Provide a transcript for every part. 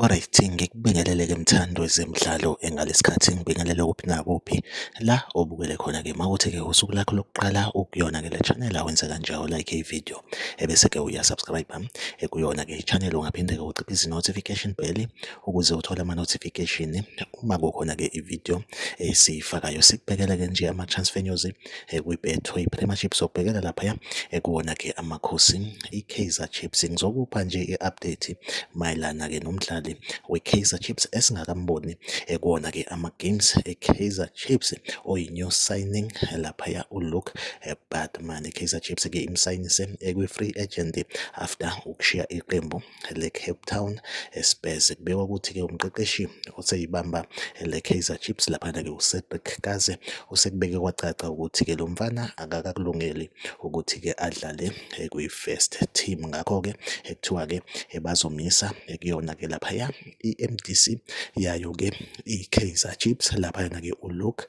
Alright, ngikubingelele-ke mthandi wezemidlalo engalesikhathi ngibingelele kuphi nakuphi la obukele khona-ke mawuthi-ke usuku lakho lokuqala ukuyona-ke le channel awenze kanjalo like ivideo ebese ke uya subscribe eh, kuyona ke channel ungaphinde ke uciphe izi notification bell ukuze uthole ama notification uma kukhona ke ivideo esiyifakayo eh, sikubhekela ke nje ama transfer news eh, kwi Betway Premiership sokubhekela lapha ya kuwona ke amakhosi i Kaizer Chiefs ngizokupha nje i update mayelana ke nomdlali we Kaizer Chiefs esingakamboni kuwona ke ama games e Kaizer Chiefs oyi new signing lapha ya u Luke Bad But manje Kaizer Chiefs ke imsayinise ekwi-free agent after ukushiya iqembu le-Cape Town Spurs. Kubekwa ukuthi ke umqeqeshi oseyibamba le-Kaizer Chiefs laphana ke uCedric Kaze usekubeke kwacaca ukuthi ke lo mfana akakakulungeli ukuthi ke adlale kwi-first team ngakho ke ekuthiwa ke bazomisa kuyona ke laphaya i-M_D_C yayo-ke i-Kaizer Chiefs laphayana-ke u-Luke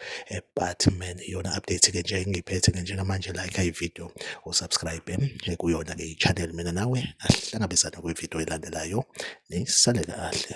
Baartman. Iyona update-ke nje engiyiphethe-ke njengamanje like-a ividiyo u-subscribe kuyona-ke i-channel mina nawe asihlangabezane kwividiyo elandelayo nisale kahle.